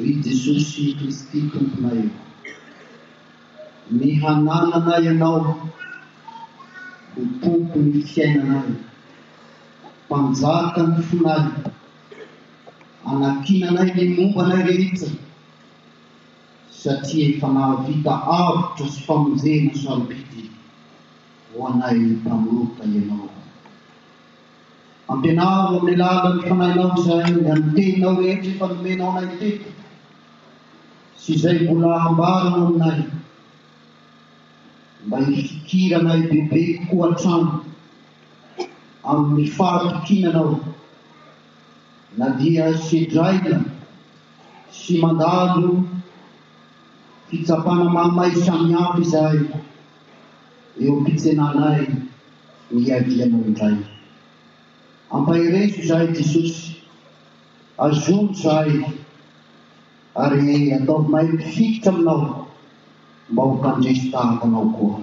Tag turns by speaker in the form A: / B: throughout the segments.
A: Ry Jesosy Kristy Tomponay ô, ny hananana Ianao ho Tompon'ny fiainanay, Mpanjakan'ny fonay, anakinanay ny mombanay rehetra, satria efa nahavita avotra sy famonjena sarobidy ho anay mpanota Ianao. Ampianaro amin'ny alalan'ny fanahinao izay amin'ny teninao rehetra efa nomenao anay teto sy izay mbola hambaranao aminay, mba hifikiranay bebe kokoa hatrany amin'ny fahatokinanao na dia sedraina sy mandalo fitsapana mahamay samihafa izahay eo am-pitsenanay. Niadianao indray. Ampaherezo izahay Jesosy, azoro izahay ary ataovy mahay mpifikitra aminao mba ho mpandresy tahaka anao koa.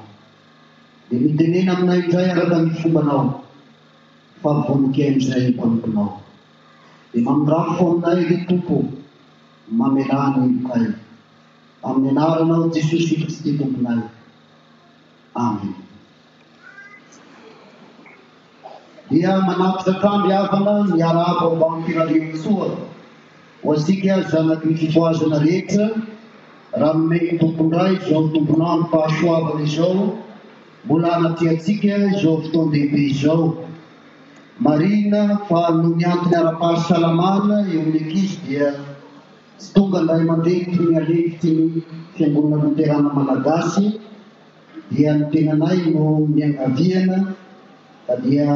A: Dia mitenena aminay indray araka ny fombanao fa vonon-kiaino izay ny mpanomponao. Dia mamindrafo aminay ry Tompo, mamelà ny helokay. Amin'ny anaranao Jesosy Kristy Tomponay. Amena. Dia manapitra hatrany havana ny arabo ambanty Ralehantsoa ho asika zanaky ny fifohazana rehetra raha nomeny ny Tompondra izao tomponandro fahasoavana izao mbola anatrehantsika izao fotoan-dehibe izao. Marihina fa noho ny antony ara-pahasalamana eo amin'ny ankizy dia tsy tonga ny ray aman-dreny toy ny alefitry ny Fiangonana Loterana Malagasy, dia ny tenanay no niangaviana fa dia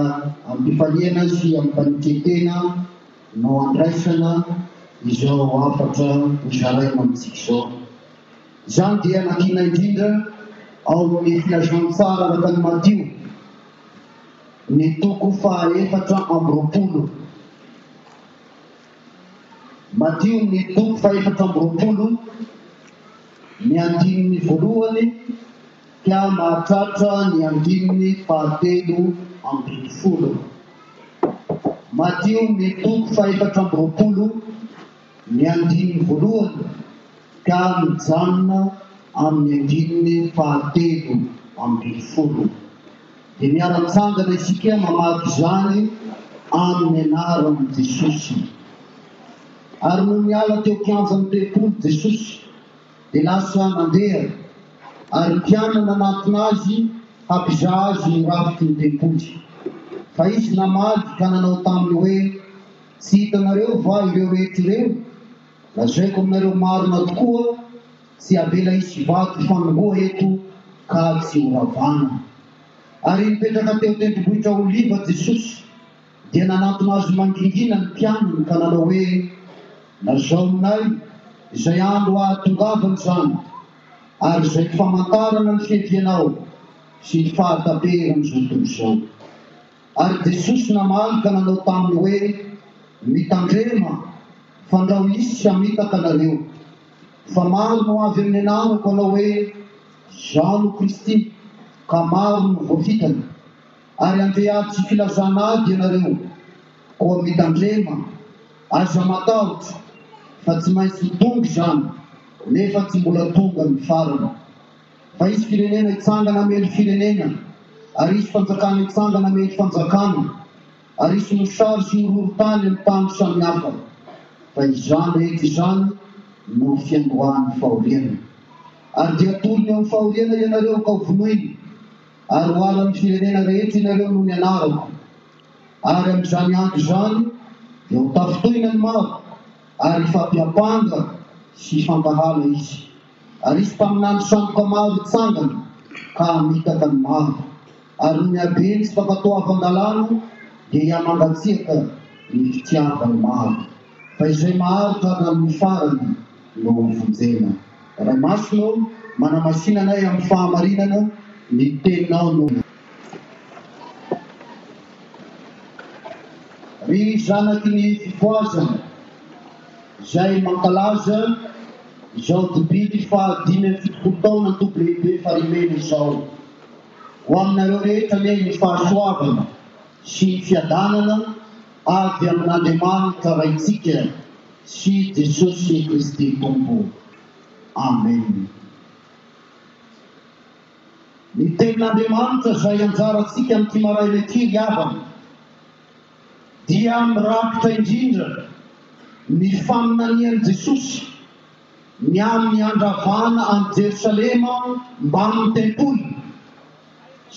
A: amim-pifaliana sy amim-panekentena no andraisana izao hafatra hozaraina amintsika izao. Izany dia nakiana indrindra ao amin'ny Filazantsara araka ny Matio, ny toko faha efatra amby roapolo. Madio ny toko fahefatra amby roapolo, ny andininy voalohany ka mahatratra ny andininy fahatelo ambin'ny folo. Madio ny toko fahefatra amby roapolo, ny andininy voalohany. ka mijanona amin'ny andininy fahatelo ambin'ny folo. Dia miara-mitsangana isika mamaky izany amin'ny anaran'i Jesosy. Ary nony niala teo kianjan'ny tempoly Jesosy, dia lasa nandeha, ary mpianany nanatona azy hampizaha azy ny rafitry ny tempoly. Fa izy namaly ka nanao taminy hoe, Tsy hitanareo va ireo rehetra ireo? Lazaiko aminareo marina tokoa, tsy havela hisy vato fanongoa eto ka tsy ho ravana. Ary nipetraka teo tendrombohitra Oliva Jesosy, dia nanantona Azy mangingina ny mpianany ka nanao hoe, Lazao aminay izay andro hahatongavana izany, ary izay famantarana ny fiavianao sy ny fahataperan'izao tontolo izao. Ary Jesosy namaly ka nanao taminy hoe, Mitandrema, fandrao hisy hamitaka anareo. Fa maro no avy amin'ny anarako hanao hoe, Izaho no Kristy, ka maro no voafitany. Ary handeha ady filazana ady ianareo. Koa mitandrema, aza matahotra, fa tsy maintsy ho tonga izany, nefa tsy mbola tonga ny farany. Fa hisy firenena hitsangana hamely firenena, ary hisy fanjakana hitsangana hamely fanjakana, ary hisy mosary sy horohorontany amin'ny tany samihafa. Fa izany rehetra izany no fiandohan'ny fahoriana. Ary dia atolony amin'ny fahoriana ianareo ka hovonoiny, ary hoalan'ny firenena rehetra ianareo noho ny anarako. Ary amin'izany andro izany dia hotafintohina ny maro, ary hifampiampanga sy hifampiahala izy. Arisy mpaminany sandoka maro hitsangana ka hamitaka ny maro, ary ny habeny sy fankatoavan-dalàna dia hihamangatsiaka ny fitiavan'ny maro, fa izay maharitra hatramin'ny farany no hovonjena. Ray Masina ô, manamasina anay amin'ny fahamarinana, ny Teninao no. Ry zanaky ny fifohazana. izay mankalaza izao Dibidy faha dimy amby fitopolo taona Toby Lehibe Farimena izao. Ho aminareo rehetra anie ny fahasoavana sy ny fiadanana avy amin'Andriamanitra Raintsika sy Jesosy Kristy Tompo. Amen. Ny Tenin'Andriamanitra izay anjarantsika amin'ity maraina ity ry havana. dia mirakitra indrindra ny faminanian'i Jesosy ny amin'ny handravana an'i Jerosalema mbamin'ny tempoly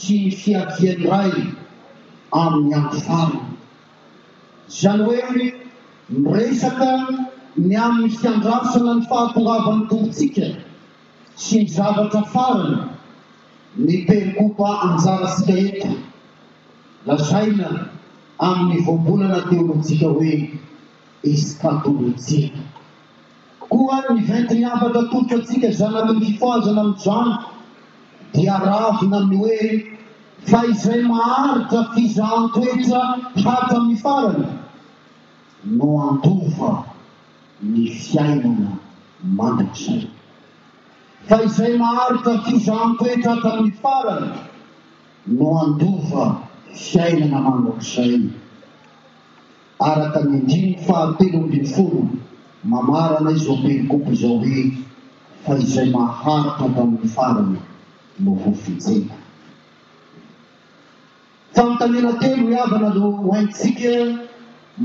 A: sy ny fiavian'ny Ray amin'ny andro farany. Izany hoe miresaka ny amin'ny fiandrasana ny fahatongavan'ny Tompontsika sy ny zavatra farany ny perikopa anjarantsika eto. Lazaina amin' ny voambolana teôlôjika hoe eskatôlôjia koa ny ventin' afaka atolotro antsika zanaky ny fifohazana amin' izany, dia ravina amin' ny hoe fa izay maharitra fizahan-toetra hatramin' ny farany no handova ny fiainana mandrakizay, fa izay maharitra fizahan-toetra hatramin' ny farany. no handova fiainana mandrakizay. Araka ny andininy fahatelo ambin'ny folo, mamarana izao perikopa izao hoe, Fa izay maharitra hatramin'ny farany no ho fijena. Fanontaniana telo miavana no hohaintsika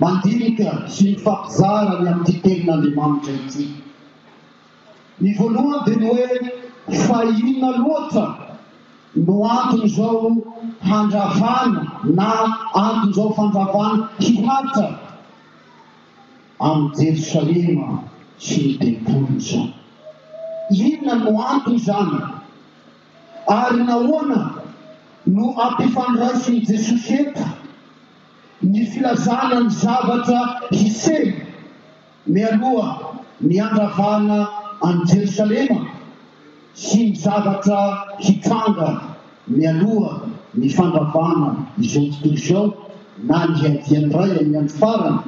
A: mandinika sy mifampizara ny amin'ity Tenin'Andriamanitra ity. Ny voalohany dia ny hoe fa inona loatra no anton'izao handravana na anton'izao fandravana hihaja amin'i Jerosalema sy ny tempoly izao? Inona no anton'izany? Ary nahoana no ampifandraisin'i Jesosy eto ny filazana ny zavatra hiseho Mialoha ny handravana an'i Jerosalema sy ny zavatra hitranga mialoha ny fandravana izao tontolo izao na ny hiadian'ny Ray amin'ny andro farany,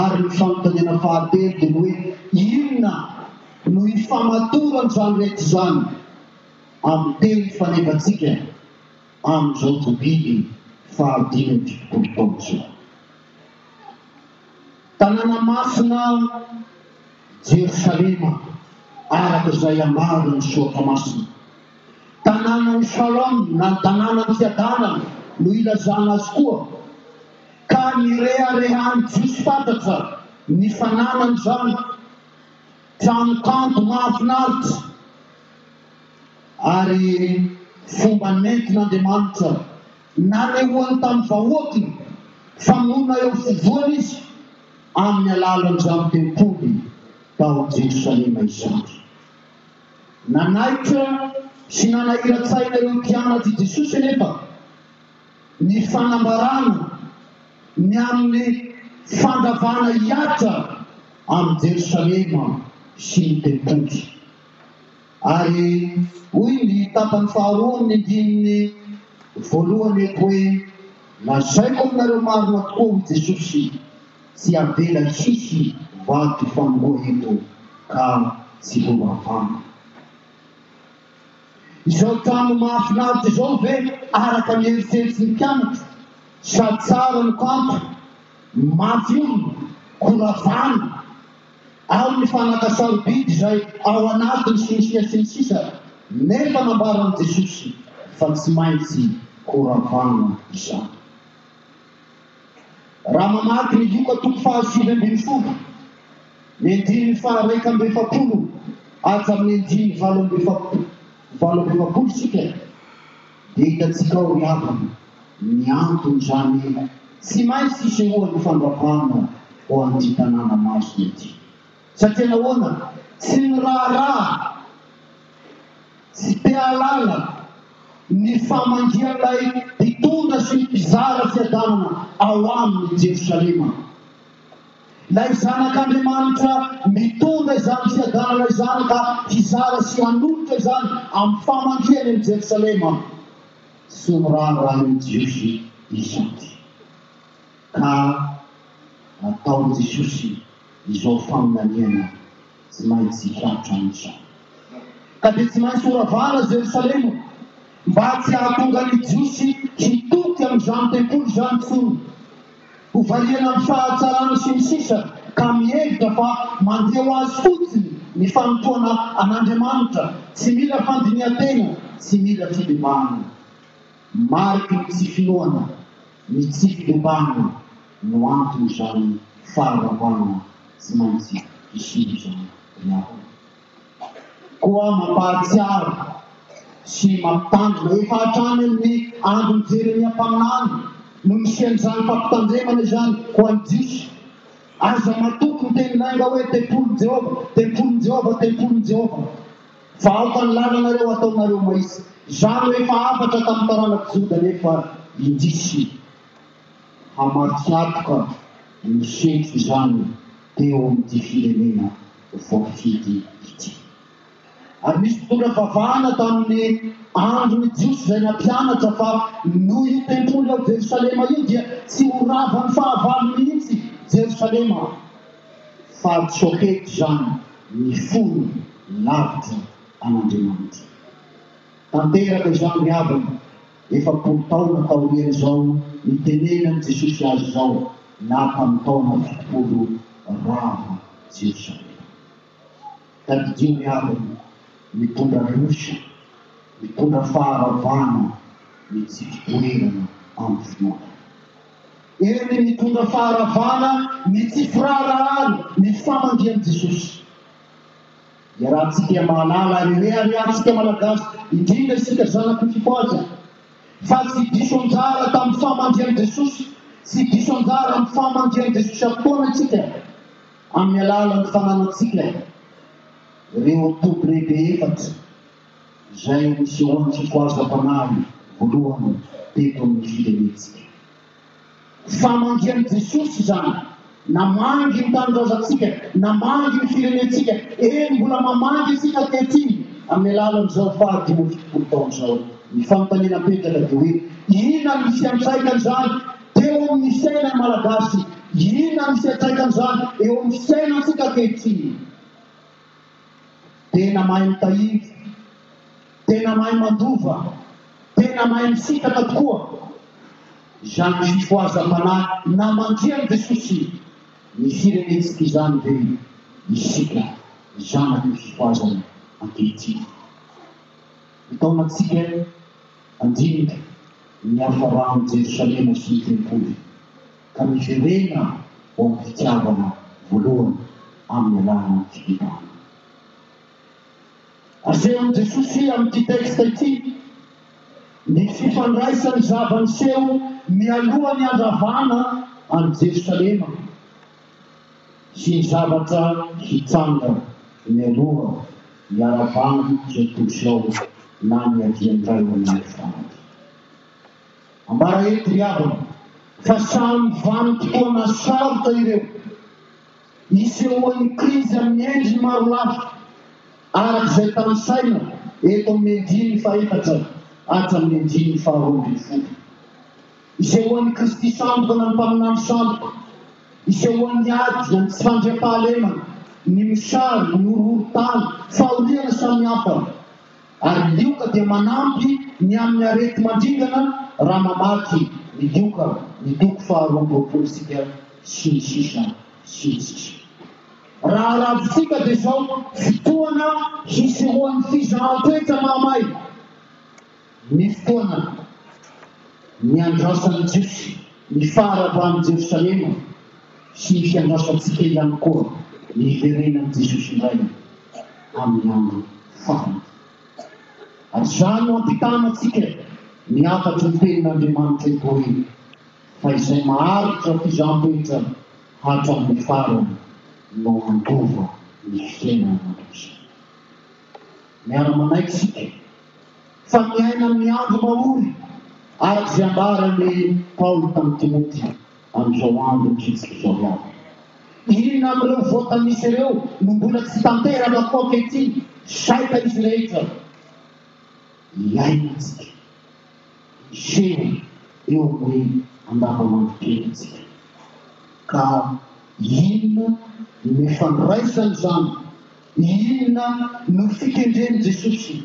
A: ary ny fanontaniana fahatelo dia ny hoe, Inona no hifamatoran'izany rehetra izany amin'ny teny fanevantsika amin'izao Jobily fahadimy amby fitopolo taona izao? Tanàna masina Jerosalema, araka izay ambaran' ny Soratra Masina. Tanànan' i Shalom na ny Tanànan' ny Fiadanana no ilazana azy koa, ka nireharehan' ny Jiosy fatratra ny fananany izany trano kanto mahafinaritra ary fomba nentin' Andriamanitra. Nanehoany tamin'ny vahoakiny fa monina eo afovoany izy amin'ny alalan'izany tempoly tao Jerosalema izany. Nanaitra sy nanahiran-tsaina ireo mpianatr'i Jesosy anefa ny fanambarana ny amin'ny fandravana hihatra an'i Jerosalema sy ny tempoly. Ary hoy ny tapany faharoa amin' ny ndininy voalohany eto hoe, Lazaiko aminareo marina tokoa, hoy Jesosy, tsy havela hisy vato hifanoroa eto ka tsy ho ravana. Izao trano mahafinaritra izao ve araka ny eritreritry ny mpianatra, sa tsara ny kanto, mafy olona, koa ravana? amin'ny fanaka sarobidy izay ao anatiny sy ny sisa sy ny sisa nefa nambaran'i Jesosy fa tsy maintsy ho ravana izany. Raha mamaky ny Lioka toko fahasivy ambin'ny folo, ny andininy faha-raika amby efapolo hatramin'ny andininy valo amby efapolo isika, Dia hitantsika ao ry havana ny anton'izany tsy maintsy hisehoan'ny fandravana ho an'ity tanàna masina ity. Satria nahoana? Tsy niraharaha, tsy te-hahalala ny famangian'ilay mpitondra sy ny mpizara fiadanana ao aminy i Jerosalema. Ilay Zanak'Andriamanitra mitondra izany fiadanana izany ka hizara sy hanolotra izany amin'ny famangiany an'i Jerosalema sy ny raharahan'ny Jiosy isanty. Ka nataon'i Jesosy izao faminaniana tsy maintsy hitratra izany. Ka dia tsy maintsy horavana Jerosalema, mba tsy hahatonga ny Jiosy hitoky amin'izany tempoly izany intsony. Hovariana amin'ny fahatsarany sy ny sisa ka mihevitra fa mandeha ho azy fotsiny ny fanompoana an'Andriamanitra, tsy mila fandinihan-tena, tsy mila fibebahana. Mariky ny tsy finoana ny tsy fibebahana. no anton'izany faharavana tsy maintsy hiseho izany ry havana. Koa mampahatsiaro sy mampitandrina efa hatrany amin'ny andron'i Jeremia mpaminany no nisian'izany fampitandremana izany ho an'ny Jiosy, Aza matoky ny teny lainga hoe, Tempolin'i Jehovah, tempolin'i Jehovah, tempolin'i Jehovah, fa aoka ny lalanareo hataonareo maizina. Izany no efa hafatra tamin'ny taranak'i Joda nefa indrisy. hamatsy antoka ny fety izany teo amin'ity firenena voafidy ity. Ary nisy mpitondra vavahana tamin'ny andron'ny Jiosy izay nampianatra fa noho io tempoly ao Jerosalema io dia tsy ho ravan'ny fahavalo mihitsy Jerosalema fa tsy ho hety izany ny fony lavitra an'Andriamanitra. Tanteraka izany ry havana. Efapolo taona taorian'izao nitenenan'i Jesosy azy izao na tamin'ny taona fitopolo rava Jerosalema. Tadidio ny havany mitondra rosy, mitondra faharavana mitsifi-doerana amin'ny finoana. Eo ny mitondra faharavana mitsifi-raharahàna ny famangian'i Jesosy. Iarahantsika mahalala ary rehareha antsika Malagasy, indrindra isika zanak'i Fifohaza, fa tsy diso anjara tamin'ny fahamandrihan'i Jesosy, tsy diso anjara amin'ny fahamandrihan'i Jesosy avokoana isika, amin'ny alalan'ny fananantsika ireo toby lehibe efatra izay nisehoan'i Fifohaza Mpanahy voalohany teto amin'ny firenentsika. Famangy an'i Jesosy izany. Namangy ny tanindrazantsika, namangy ny firenentsika, eny mbola mamangy isika ankehitriny amin'ny alalan'izao faha dimy amby fitopolo taona izao. Ny fanontaniana apetraka dia hoe inona no misy antraikan'izany teo amin'ny fiainan'ny Malagasy? Inona no misy antraikan'izany eo amin'ny fiainantsika ankehitriny? Tena mahay mitahiry, tena mahay mandova, tena mahay misintaka tokoa. Izany fifohazam-panahy namandrihan'i Jesosy ny firenentsika izany ve isika zanaky ny fifohazana ankehitriny? Ny taonantsika handinika ny hafaran'i Jerosalema sy ny tempoly ka miverena ho amin'ny fitiavana voalohany amin'ny alalan'ny fibebahana. Asehon'i Jesosy amin'ity texte ity ny fifandraisan'ny zava-niseho mialoha ny handravana an'i Jerosalema sy ny zavatra hitranga mialoha ny haravan'ny Jean Pouchon na ny hiadian'ny ray aman-dreny fanaty. Ambara'eto ry havana fa samy vanim-potoana sarotra ireo isehoan'ny krizy amin'ny endriny maro lafy araka izay tanisaina eto amin'ny andininy fahefatra hatramin'ny andininy faharoa ambin'ny folo. Isehoan'i Kristy sandoka na ny Mpaminany sandoka, isehoan'ny ady, ny tsy fandriampahalemana, ny mosary, ny horohorontany, fahoriana samihafa. Ary ny lioka dia manampy ny amin'ny areti-mandringana raha mamaky ny lioka ny toko faharoa amby roapolo isika sy ny sisa sy ny sisa. Raha aravintsika dia izao fotoana hisorohan'ny fizahan-toetra mahamay ny fotoana niandrasan'ny Jiosy. Ny faharavan'i Jerosalema sy ny fiandrasantsika ihany koa ny hiverenan'i Jesosy indray amin'ny andro farany. Ary izany no ampitana antsika ny hafatry ny tenin'Andriamanitra eto aoriana, fa izay maharitra fizaham-petra hatramin'ny farany no handova ny fiainana mandrakizay. Miara-manaiky isika. fa miaina amin'ny andro mahory, araka izay ambaran'i Paoly tamin'i Timoty, amin'izao andro mihitsy izao ihany. Inona amin'ireo voatanisa ireo no mbola tsy tanteraka koa ankehitriny, saika izy rehetra iainantsika, miseho eo amin'ny andavanandrom-piainantsika? Ka inona no ifandraisan'izany Inona no fikendren'i Jesosy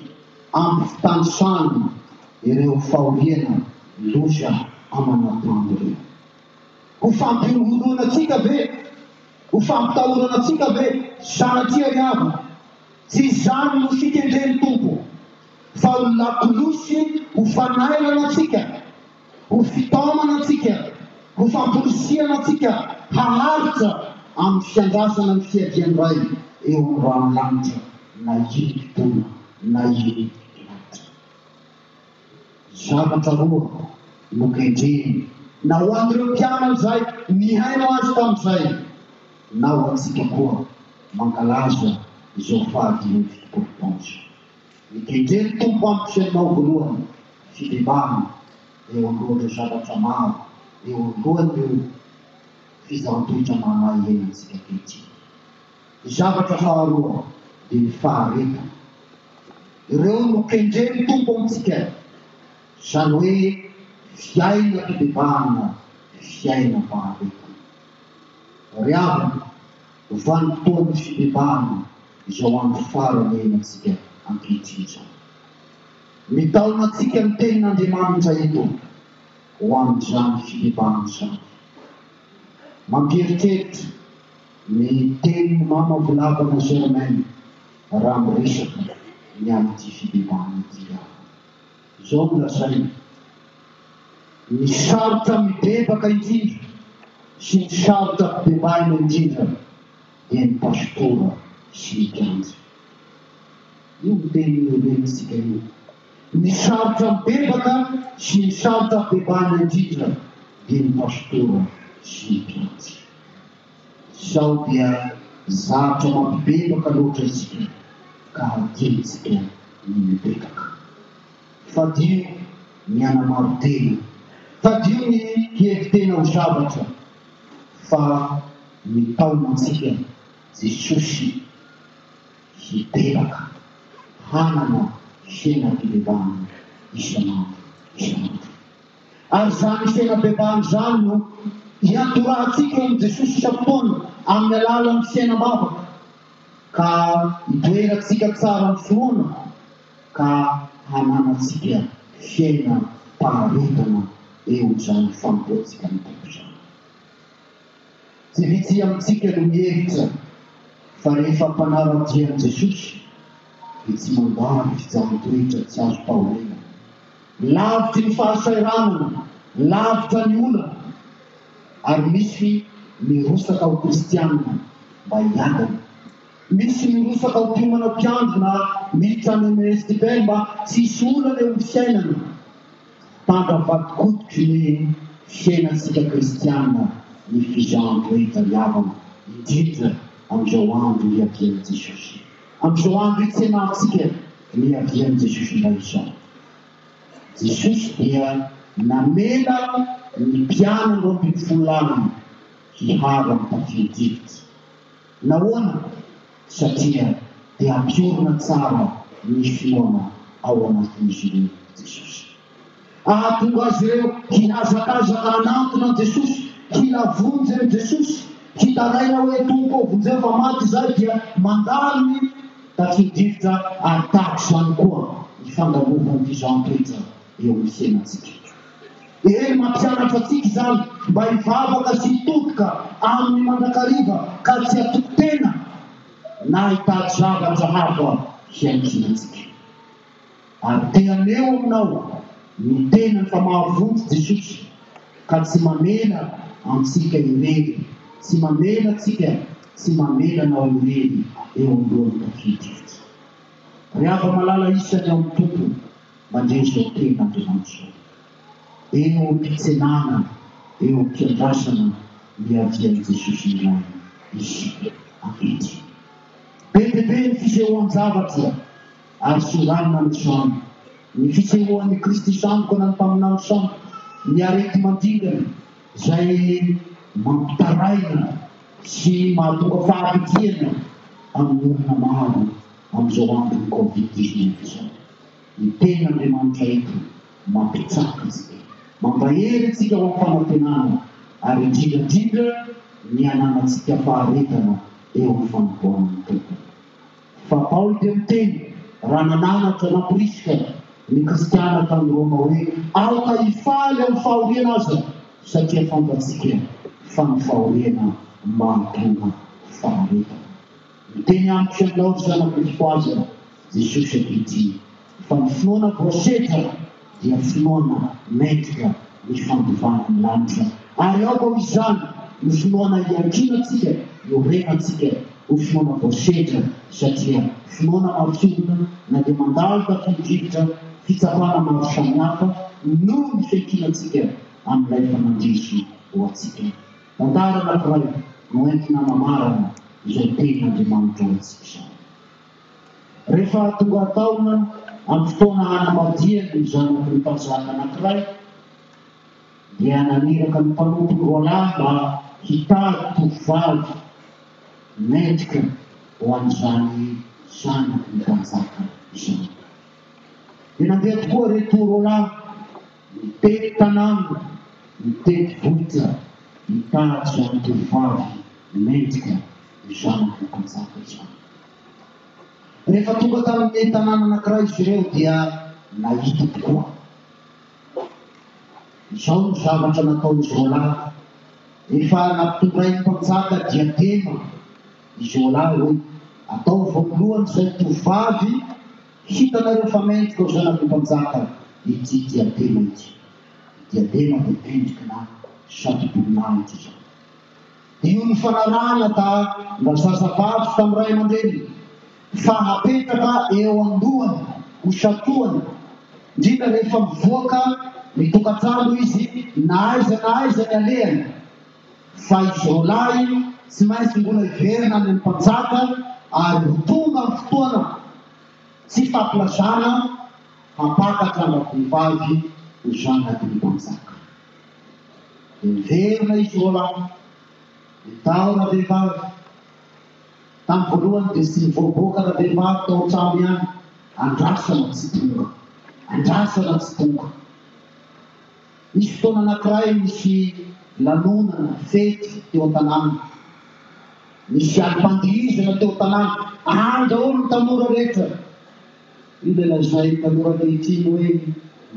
A: amin'ny fitanisany ireo fahoriana loza aman'Adama ireo? Ho fampihorohoroana antsika ve? Ho fampitahorana antsika ve? Sanatria ry havana, tsy izany no fikendren'ny Tompo, fa ho lakolosy ho fanairana antsika. Ho fitaomana antsika, ho famporisihana antsika haharitra amin'ny fiandrasana ny fiadian'ny Ray eo amin'ny rano lanitra na inim-potoana na inim-potoana lanitra. Zavatra roa no kendreny na ho an'ireo mpianany izay nihaino Azy tamin'izay na ho antsika koa mankalaza izao fahadimy amby fitopolo taona izao. Mitendry ny Tompo amiko sy anao voalohany fibebahana eo andohan'ireo zavatra maro eo andohan'ireo fizahan-toetra mahamay iainantsika ankehitriny. Ny zavatra faharoa dia ny faharetana. Ireo no kendren'ny Tompo amintsika, izany hoe fiainam-pibebahana, fiainam-paharetana. Ry havana, Vanim-potoan'ny fibebahana izao andro farany iainantsika ankehitriny izao. Mitaona antsika ny Tenin'Andriamanitra eto ho amin'izany fibebahana izany. Mampieritreritra ny tenin'i Mama Volavana Germaine raha miresaka ny amin'ity fibebahana ity aho. Izao no lazainy, Ny sarotra mibebaka indrindra sy ny sarotra bebaina indrindra dia ny pastora sy ny kianja. Io no teny nohevenintsika io. Ny sarotra mibebaka sy ny sarotra bebaina indrindra dia ny pastora sy ny kianja. Sao dia zavtra mampibebaka loatra isika ka tiantsika ny mibebaka. Fadio ny hanamaro tena, fadio ny hihevi tena ho zavatra, fa mitaona antsika Jesosy hibebaka, hanana fiainam-pibebahana isan'andro isan'andro. Ary izany fiaina bebahana izany no hiandohantsika eo amin'i Jesosy isam-potoana amin'ny alalan'ny fiainam-bavaka, ka hidoerantsika tsara ny finoana ka hananantsika fiainam-paharetana eo amin'izany fanompoantsika ny Tompo izany. Tsy vitsy amintsika no mihevitra fa rehefa mpanara-dia an'i Jesosy dia tsy mandà ny fitsaran-toetra tsy azo taoriana. Lavitry ny fahasahiranana, lavitra ny olana, ary misy mirosaka ho kristiana mba hiadana. Misy mirosaka ho mpiomana mpiandry na militra any amin'ny RSTBL mba tsy hisy olana eo amin'ny fiainana. Fantany fa tikotiky ny fiainantsika kristiana ny fizaham-pahitaniavana, indrindra amin'izao andro iavian'i Jesosy. Amin'izao andro itsenantsika ny iavian'i Jesosy indray izao. Jesosy dia namela ny mpianany roa ambin'ny folo laliny hiharo amin'ny tafio-drivotra. Nahoana? Satria te hampiorina tsara ny finoana ao anatin'izy ireo i Jesosy. Hahatonga azy ireo hihazakazaka hanantona an'i Jesosy, hila vonjy amin'i Jesosy, hitaraina hoe, Tompo ô, vonjeo fa maty izahay, dia mandalo ny takin-drivotra ary tahaka izany koa ny fandalovan'ity zan-toetra eo amin'ny fiainantsika. Eny, mampianatra antsika izany mba hivavaka sy hitotoka Aminy mandrakariva ka tsy hatoky tena na hitady zavatra hafa hiankinantsika. Ary te haneho aminao ny tenany fa mahavonjy Jesosy ka tsy mamela antsika irery, tsy mamela antsika, tsy mamela anao irery eo am-boan'ny tafio-drivotra. Ry hava-malala isany ao amin'ny Tompo, mandre izao teny Andriamanitra izao. Eo am-pitsenana, eo am-piandrasana miavia an'i Jesosy indray isika ankehitriny. Be dia be ny fisehoan-javatra ary soranina ny trano, ny fisehoan'i Kristy sandoka na ny mpaminany sandoka, ny areti-mandringana izay mampitaraina, Tsy mahatonga fahavitrihana amin'ny olona maro amin'izao andron'ny covid dix neuf izao ny tenin'Andriamanitra eto, mampitsaka izy dia mampahery antsika ho amin'ny fanantenana ary indrindra indrindra ny hananantsika faharetana eo amin'ny fanompoan'ny Tompo. Fa Paoly dia miteny, raha nananatra na Priska ny kristiana tany Roma hoe, Aoka hifaly amin'ny fahoriana aza, satria fantatsika fa ny fahoriana mahatonga faharetana. Miteny amiko ianao, ry zanako, ny fohazana, Jesosy ankehitriny. Fa ny finoana propheta dia finoana maître ny fandovana ny lanitra ary ao amin izany no finoana hiankiana tsika io rena tsika ho finoana propheta satria finoana marofina na dia mandalo tafio drivotra fitsapana maro samihafa no ny fiankiana tsika amin ilay efa nandresy ho atsika tantara anankiray no entina hanamarana izay tenin Andriamanitra ho antsika izany. Rehefa tonga tao na amin'ny fotoana hanambadiany ny zanaky ny mpanjaka anankiray, dia naniraka ny mpanompony roalahy mba hitady tovovavy mendrika ho an'izany zanaky ny mpanjaka izany. Dia nandeha tokoa ireto roalahy, nitety tanàna, nitety vohitra hitady izany tovovavy mendrika ho zanaky ny mpanjaka izany. Rehefa tonga tamin'ny tanàna anankiray izy ireo dia nahita tokoa. Izao no zavatra nataon'izy roalahy. Rehefa nampitondrain'ny mpanjaka diadema izy roalahy hoe, Ataovy eo alohan'izay tovovavy hitanareo fa mendrika ho zanaky ny mpanjaka ity diadema ity. Ny diadema dia endrikina satroboninahitra izany. Io nifanarahana ta-ndrazazavavy tamin'ny ray aman-dreniny fa hapetraka eo an-dohany ho satohana, indrindra rehefa mivoaka ny tokantrano izy na aiza na aiza ny alehany, fa izy roalahy tsy maintsy mbola hiverina any amin'ny mpanjaka ary ho tonga ny fotoana tsy fampilazana hampakatra an-dravehivavy ho zanak'ilay mpanjaka. Niverina i Frolan, ny tahona vehivavy. Tamin'ny voalohany dia tsy nivoaboaka ravehivavy tao an-trano ihany, andrasana tsy tonga, andrasana tsy tonga. Nisy fotoana anankiray nisy lanonana, fety, teo an-tanàna. Nisy alim-pandihizana teo an-tanàna, andra hono ny tanora rehetra. Ny dia lazainy taloha ankehitriny hoe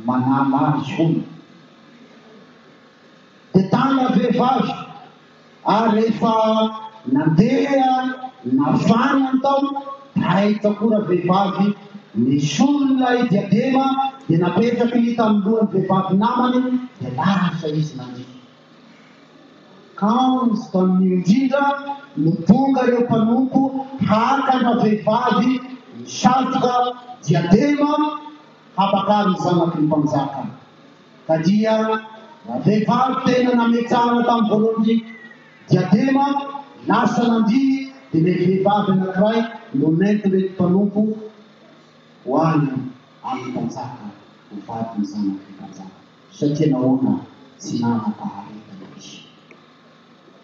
A: manala azy hono. Dia tana vehivavy ary rehefa nandeha nafana ny tao tay takoa ravehivavy nisolo ilay diadema dia napetraka hita amin'ny lohan'ny vehivavy namany dia lasa izy nandriaka. Kamo izy tamin'io indrindra no tonga ireo mpanompo haka ana vehivavy misatroka diadema habakary ny zanaky ny mpanjaka. Ka dia raha vehivavy tena nametsahana tamin'ny voalohany ny diadema, lasa nandihy dia ilay vehivavy anankiray no nentin'ireto mpanompo ho any amin'ny mpanjaka ho vadin'ny zanaky ny mpanjaka. Satria nahoana tsy nanam-paharetana izy?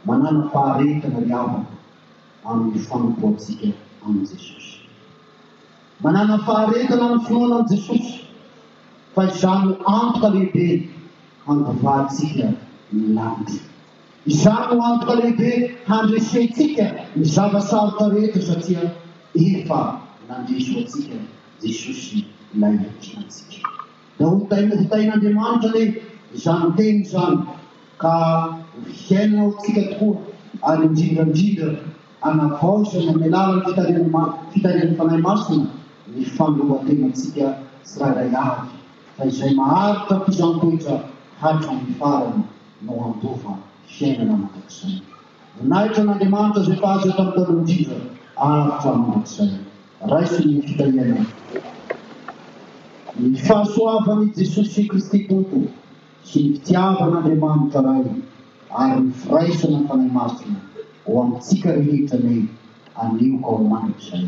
A: Manana faharetana ry havana amin'ny fanompoantsika an'i Jesosy. Manana faharetana amin'ny finoana an'i Jesosy, fa izany no antoka lehibe handovahantsika ny lanitra. Izany no antoka lehibe handresentsika ny zava-sarotra rehetra, satria efa nandresy ho antsika Jesosy ilay hiankinantsika. Dia hotaina hotain'Andriamanitra anie izany teny izany ka ho fiainana ao amintsika tokoa ary indrindra indrindra hanavaozina amin'ny alalan'ny fitarihan'ny fitarihan'ny Fanahy Masina ny fanoloran-tenantsika tsirairay avy fa izay maharitra ampisantoetra hatramin'ny farany no handova fiainana mandrakizay. Voninahitra an'Andriamanitra izay mpahazo eto amin'ny taloha indrindra ary hatramin'ny mandrakizay. Raiso ny fitahiana ny fahasoavan'i Jesosy Kristy Tompo sy ny fitiavan'Andriamanitra Ray ary ny firaisana ny Fanahy Masina ho amintsika rehetra anie anio ka ho mandrakizay.